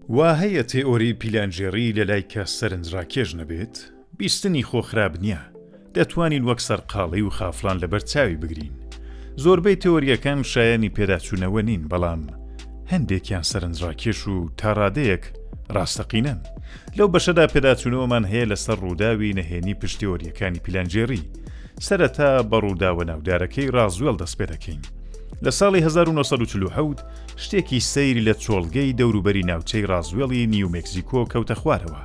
وا هەیە تێئۆری پیلانگێڕی لە لای کەس سەرنجڕاکێش نەبێت، بیستنی خۆ خراپ نییە، دەتوانین وەک سەرقاڵی و خافڵان لەبەر چاوی بگرین. زۆربەی تێئۆرییەکان شایەنی پێداچوونەوە نین، بەڵام هەندێکیان سەرنجڕاکێش و تا ڕادەیەک ڕاستەقینەن. لەو بەشەدا پێداچوونەوەمان هەیە لەسەر ڕووداوی نەهێنی پشت تێئۆرییەکانی پیلانگێڕی. سەرەتا بە ڕووداوە ناودارەکەی ڕازوێڵ دەست پێ دەکەین. لە ساڵی هەزار و نۆ سەد و چل و حەوت شتێکی سەیر لە چۆڵگەی دەوروبەری ناوچەی ڕازوێڵی نیو مێکزیکۆ کەوتە خوارەوە.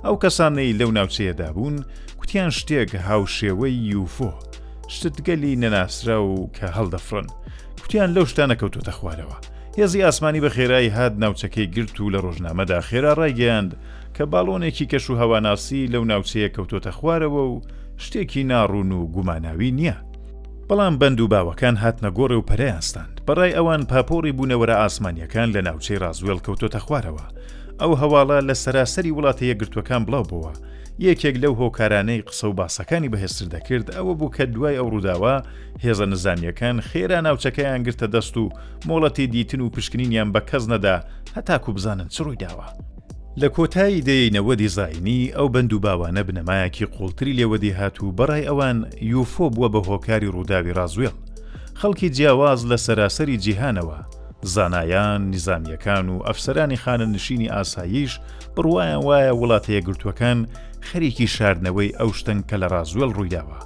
ئەو کەسانەی لەو ناوچەیەدا بوون کوتیان شتێک هاوشێوەی یوفۆ، شتگەلی نەناسراو کە هەڵدەفڕن، کوتیان لەو شتانە کەوتووەتە خوارەوە. هێزی ئاسمانی بە خێرایی هات ناوچەکەی گرت و لە ڕۆژنامەدا خێرا ڕایگەیاند، کە باڵۆنێکی کەش و هەواناسی لەو ناوچەیە کەوتۆتە خوارەوە و شتێکی ناڕوون و گوماناوی نییە. بەڵام بەند و باوەکان هاتنە گۆڕێ و پەرەیان ستاند. بە ڕای ئەوان پاپۆڕی بوونەوەرە ئاسمانییەکان لە ناوچەی ڕازوێڵ کەوتۆتە خوارەوە. ئەو هەواڵە لە سەراسەری وڵاتە یەکگرتووەکان بڵاو بۆوە. یەکێک لەو هۆکارانەی قسە و باسەکانی بەهێزتر دەکرد ئەوە بوو کە دوای ئەو ڕووداوە هێزە نزامییەکان خێرا ناوچەکەیان گرتە دەست و مۆڵەتی دیتن و پشکنینیان بە کەس نەدا هەتاکوو بزانن چ ڕووی داوە. لە کۆتایی دەیەی نەوەدی زایینی، ئەو بەند و باوانە بنەمایەکی قووڵتری لێ وەدی هات و بەڕای ئەوان یوفۆ بووە بە هۆکاری ڕووداوی ڕازوێڵ. خەڵکی جیاواز لە سەراسەری جیهانەوە، زانایان، نیزامییەکان و ئەفسەرانی خانەنشینی ئاساییش بڕوایان وایە وڵاتەیەکگرتووەکان خەریکی شاردنەوەی ئەو شتەن کە لە ڕازوێڵ ڕوویداوە،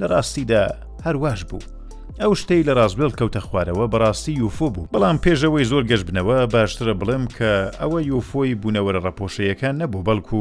لە ڕاستیدا هەر واش بوو. ئەو شتەی لە ڕاستبێڵ کەوتە خوارەوە بەڕاستی یوفۆ بوو بەڵام پێشەوەی زۆر گەش بنەوە باشترە بڵێم کە ئەوە یوفۆی بوونەوەرە ڕەپۆشەیەکان نەبوو بەڵکو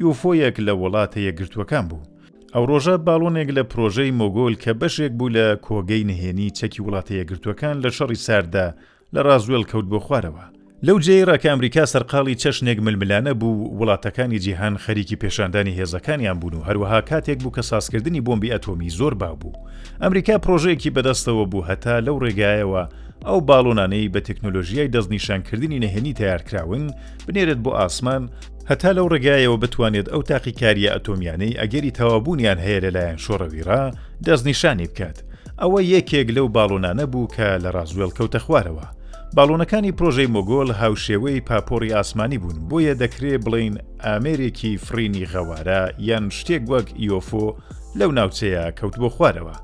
یوفۆیەک لە وڵاتە یەکگرتووەکان بوو. ئەو ڕۆژە باڵۆنێک لە پرۆژەی مۆگۆل کە بەشێک بوو لە کۆگەی نهێنی چەکی وڵاتە یەکگرتووەکان لە شەڕی سارددا لە ڕازوێڵ کەوت بۆ خوارەوە. لەو جێی ڕا کە ئەمریکا سەرقاڵی چەشنێک ململانە بوو، وڵاتەکانی جیهان خەریکی پێشاندانی هێزەکانیان بوون و هەروەها کاتێک بوو کە سازکردنی بۆمبی ئەتۆمی زۆر باو بوو. ئەمریکا پڕۆژەیەکی بەدەستەوە بوو هەتا لەو ڕێگایەوە ئەو باڵۆنانەی بە تەکنۆلۆژیای دەستنیشانکردنی نهێنی تەیارکراون بنێرێت بۆ ئاسمان، هەتا لەو ڕێگایەوە بتوانێت ئەو تاقیکارییە ئەتۆمییانەی ئەگەری تەواوبوونیان هەیە لەلایەن شۆڕەویڕا دەستنیشانی بکات. ئەوە یەکێک لەو باڵۆنانە بوو کە لە ڕازوێڵ کەوتە خوارەوە. باڵۆنەکانی پرۆژەی مۆگۆل هاوشێوەی پاپۆڕی ئاسمانی بوون، بۆیە دەکرێ بڵێین ئامێرێکی فڕینی غەوارە یان شتێک وەک یۆفۆ لەو ناوچەیە کەوت بۆ خوارەوە.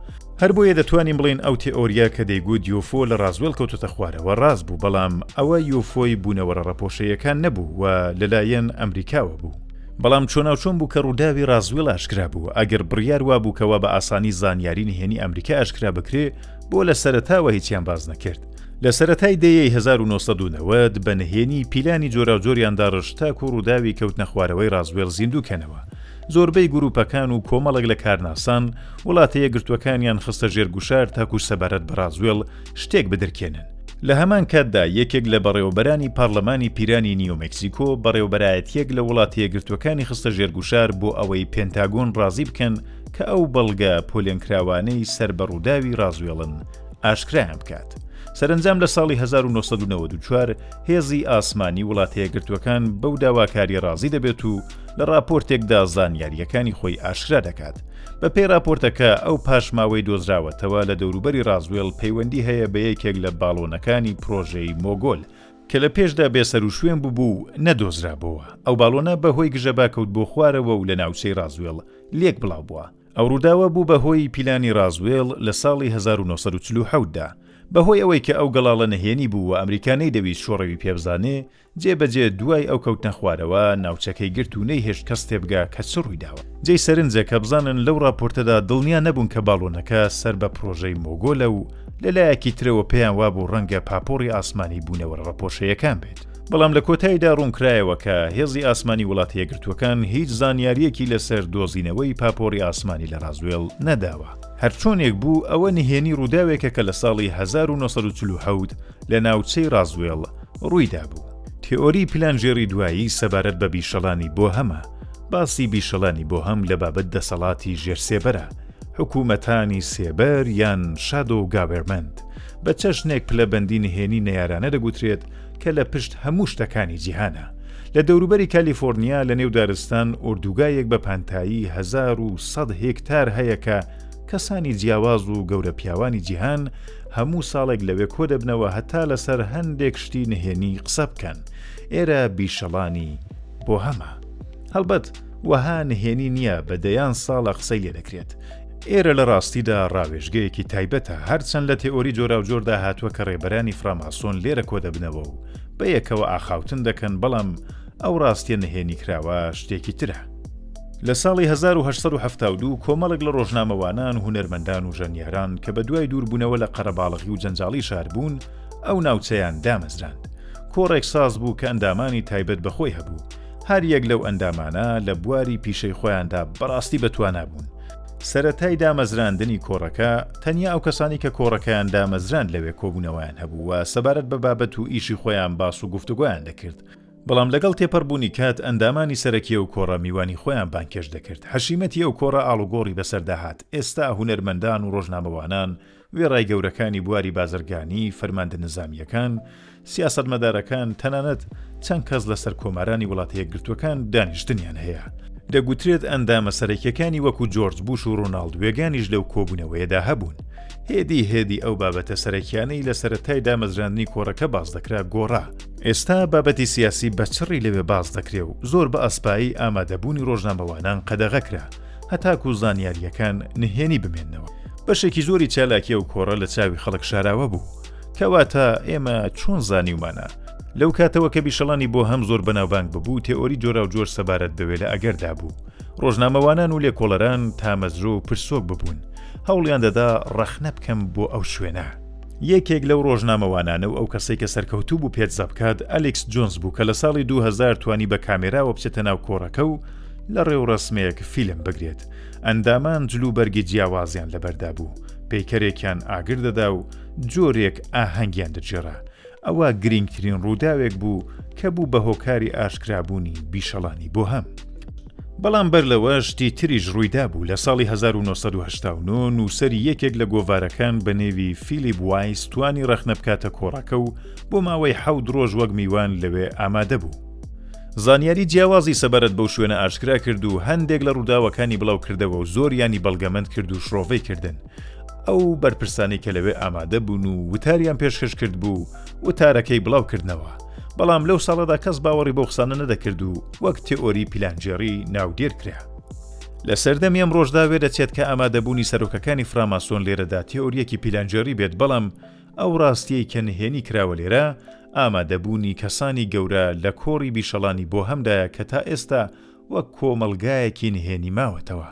هەر بۆیە دەتوانین بڵێین ئەو تێئۆرییە کە دەیگوت یۆفۆ لە ڕازوێڵ کەوتۆتە خوارەوە ڕاست بوو، بەڵام ئەوە یۆفۆی بوونەوەرە ڕەپۆشەییەکان نەبوو و لەلایەن ئەمریکاوە بوو. بەڵام چۆناوچۆن بوو کە ڕووداوی ڕازوێڵ ئاشکرا بوو، ئەگەر بڕیار وابوو کە وا بە ئاسانی زانیاری نهێنی ئەمریکا ئاشکرا بکرێ بۆ لە سەرەتاوە هیچیان باس نەکرد؟ لە سەرەتای دەیەی هەزار و نۆ سەد و نەوەد بە نهێنی پیلانی جۆراوجۆریان داڕشت تاکوو ڕووداوی کەوتنەخوارەوەی ڕازوێڵ زیندوو کەنەوە، زۆربەی گرووپەکان و کۆمەڵێک لە کارناسان وڵاتە یەکگرتووەکانیان خستە ژێر گوشار تاکوو سەبارەت بە ڕازوێڵ شتێک بدرکێنن. لە هەمان کاتدا یەکێک لە بەڕێوەبەرانی پارلمانی پیرانی نیو مکسیکۆ بەڕێوبەرایەتیەک لە وڵاتەیەکگرتوەکانی خستە ژێر گوشار بۆ ئەوەی پێنتاگۆن ڕازی بکەن کە ئەو بەڵگە پۆلێنکراوانەی سەر بە ڕووداوی ڕازوێڵن ئاشکرایان بکات. سەرنجام لە ساڵی 1994 هێزی ئاسمانی وڵاتەیەکگرتوەکان بەو داواکاری ڕازی دەبێت و لە ڕاپۆرتێکدا زانیاریەکانی خۆی ئاشکرا دەکات بەپێی راپۆرتەکە، ئەو پاشماوەی دۆزراوەتەوە لە دەوروبەری رازوێڵ پەیوەندی هەیە بە یەکێک لە باڵۆنەکانی پرۆژەی مۆگۆل، کە لە پێشدا بێسەروشوێن بووبوو و نەدۆزرابۆوە، ئەو باڵۆنە بە هۆی گژەبا کەوت بۆ خوارەوە و لە ناوچەی رازوێڵ لێک بڵاو بووە. ئەو رووداوە بوو بە هۆی پیلانی رازوێڵ لە ساڵی هەزار و نۆ سەد و چل و حەوت دا. بە هۆی ئەوەی کە ئەو گەڵاڵە نهێنی بوو و ئەمریکا نەیدەویست شۆڕەوی پێبزانێ، جێ بە جێ دوای ئەو کەوتنە خوارەوە ناوچەکەی گرت و نەیهێشت کەس تێبگا کە چ ڕوویداوە. جێی سەرنجە کە بزانن لەو ڕاپۆرتەدا دڵنیا نەبوون کە باڵۆنەکە سەر بە پڕۆژەی مۆگۆلە و لە لایەکی ترەوە پێیان وابوو ڕەنگە پاپۆڕی ئاسمانی بوونەوەرە ڕەپۆشەیەکان بێت. بەڵام لە کۆتایدا ڕوونکرایەوە کە هێزی ئاسمانی وڵاتە یەکگرتووەکان هیچ زانیارییەکی لەسەر دۆزینەوەی پاپۆڕی ئاسمانی لە ڕازوێڵ نەداوە. هەرچۆنێک بوو ئەوە نهێنی ڕووداوێکە کە لە ساڵی هەزار و نۆ سەد و چل و حەوت لە ناوچەی ڕازوێڵ ڕوویدابوو. تێئۆری پیلانگێڕی دوایی سەبارەت بە بیشەڵانی بۆهەمە، باسی بیشەڵانی بۆهەم لە بابەت دەسەڵاتی ژێر سێبەرە، حکوومەتانی سێبەر یان Shadow Government، بە چەشنێک پلەبەندی نهێنی نەیارانە دەگوترێت کە لە پشت هەموو شتەکانی جیهانە. لە دەوروبەری کالیفۆرنیا لە نێو دارستان ئۆردوگایەک بە پانتایی هەزار و سەد هێکتار هەیە کە کەسانی جیاواز و گەورەپیاوانی جیهان هەموو ساڵێک لەوێ کۆدەبنەوە هەتا لەسەر هەندێک شتی نهێنی قسە بکەن، ئێرە بیشەڵانی بۆهەمە. هەڵبەت وەها نهێنی نییە بە دەیان ساڵە قسەی لێ دەکرێت. ئێرە لە ڕاستیدا ڕاوێژگەیەکی تایبەتە، هەرچەند لە تێئۆری جۆراوجۆردا هاتووە کە ڕێبەرانی فراماسۆن لێرە کۆدەبنەوە و بەیەکەوە ئاخاوتن دەکەن، بەڵام ئەو ڕاستیە نهێنیکراوە شتێکی ترە. لە ساڵی هەزار و هەشت سەد و حەفتا و دوو کۆمەڵێک لە ڕۆژنامەوانان، هونەرمەندان و ژەنیاران کە بەدوای دووربوونەوە لە قەرەباڵغی و جەنجاڵی شار بوون، ئەو ناوچەیان دامەزراند. کۆڕێک ساز بوو کە ئەندامانی تایبەت بە خۆی هەبوو. هەر یەک لەو ئەندامانە لە بواری پیشەی خۆیاندا بەڕاستی بەتوانا بوون. سەرەتای دامەزراندنی کۆڕەکە، تەنیا ئەو کەسانەی کە کۆڕەکەیان دامەزراند لەوێ کۆبوونەوەیان هەبوو و سەبارەت بە بابەت و ئیشی خۆیان باس و گفتوگۆیان دەکرد. بەڵام لەگەڵ تێپەڕبوونی کات ئەندامانی سەرەکی ئەو کۆڕە میوانی خۆیان بانگهێشت دەکرد، حەشیمەتی ئەو کۆڕە ئاڵوگۆڕی بەسەردا هات، ئێستا هونەرمەندان و ڕۆژنامەوانان وێڕای گەورەکانی بواری بازرگانی، فەرماندە نزامییەکان، سیاسەتمەدارەکان، تەنانەت چەند کەس لە سەرکۆمارانی وڵاتەیەکگرتووەکان دانیشتنیان هەیە. دەگوترێت ئەندامە سەرەکییەکانی وەکو جۆرج بوش و ڕۆناڵد وێگانیش لەو کۆبوونەوەیەدا هەبوون. هێدی هێدی ئەو بابەتە سەرەکییانەی لە سەرەتای دامەزراندنی کۆڕەکە باس دەکرا گۆڕا، ئێستا بابەتی سیاسی بە چڕی لەوێ باس دەکرێ و زۆر بە ئەسپایی ئامادەبوونی ڕۆژنامەوانان قەدەغە کرا هەتاکوو زانیارییەکان نهێنی بمێننەوە. بەشێکی زۆری چالاکی ئەو کۆڕە لە چاوی خەڵک شاراوە بوو. کەواتە ئێمە چۆن زانیومانە؟ لەو کاتەوە کە بیشەڵانی بۆهەم زۆر بەناوبانگ ببوو، تێئۆری جۆراوجۆر سەبارەت بەوێ لە ئەگەردا بوو. ڕۆژنامەوانان و لێکۆڵەران تامەزرۆ و پرسۆک ببوون. هەوڵیان دەدا ڕەخنە بکەم بۆ ئەو شوێنە. یەکێک لەو ڕۆژنامەوانانە و ئەو کەسەی کە سەرکەوتوو بوو پێتزا بکات، ئەلیکس جۆنز بوو کە لە ساڵی دوو هەزار توانی بە کامێراوە بچێتە ناو کۆڕەکە و لە ڕێوڕەسمێک فیلم بگرێت. ئەندامان جلوبەرگی جیاوازیان لەبەردا بوو، پەیکەرێکیان ئاگر دەدا و جۆرێک ئاهەنگیان دەگێڕا. ئەوە گرینگترین ڕووداوێک بوو کە بوو بە هۆکاری ئاشکرابوونی بیشەڵانی بۆهەم. بەڵام بەر لەوە شتی تریش ڕوویدابوو لە ساڵی 1970 نووسری یەکێک لە گۆڤارەکان بە نێوی فیلیب وایس توانی ڕەخنە بکاتە کۆڕەکە و بۆ ماوەی حەود ڕۆژ وەک میوان لەوێ ئامادە بوو. زانیاری جیاوازی سەبارەت بەو شوێنە ئاشکرا کرد و هەندێک لە ڕووداوەکانی بڵاو کردەوە و زۆریانی بەڵگەمەند کرد و شڕۆڤەی کردن. ئەو بەرپرسانی کە لەوێ ئامادە بوون و وتاریان پێشکەش کرد بوو وتارەکەی بڵاو کردنەوە. بەڵام لەو ساڵەدا کەس باوەڕی بەو قسانە نەدەکرد و وەک تئۆری پیلانگێڕی ناودێر کرا. لە سەردەمی ئەمڕۆشدا وێدەچێت کە ئامادەبوونی سەرۆکەکانی فراماسۆن لێرەدا تئۆرییەکی پیلانگێڕی بێت بەڵام ئەو ڕاستییەی کە نهێنی کراوە لێرە ئامادەبوونی کەسانی گەورە لە کۆڕی بیشەڵانی بۆهەمدایە کە تائێستا وەک کۆمەڵگایەکی نهێنی ماوەتەوە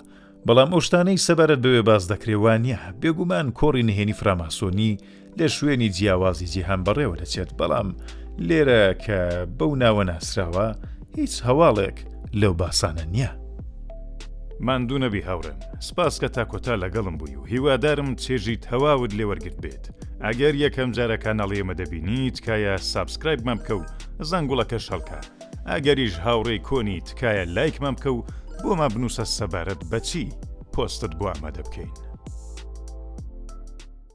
بەڵام ئەو شتانەی سەبارەت بەوێ باس دەکرێ وا نییە، بێگومان کۆڕی نهێنی فراماسۆنی لە شوێنی جیاوازی جیهان بەڕێوە دەچێت، بەڵام لێرە کە بەو ناوە ناسراوە هیچ هەواڵێک لەو باسانە نییە. ماندوو نەبی هاوڕێم، سپاس کە تا کۆتا لەگەڵم بووی و هیوادارم چێژی تەواوت لێ وەرگرت بێت. ئەگەر یەکەم جارە کاناڵی ئێمە دەبینی تکایە سابسکرایبمان بکە و زەنگوڵەکەش هەڵکە ئەگەریش هاوڕێی کۆنی تکایە لایکمان بکە و بۆمان بنووسە سەبارەت بەچی پۆستت بۆ ئامادە بکەین.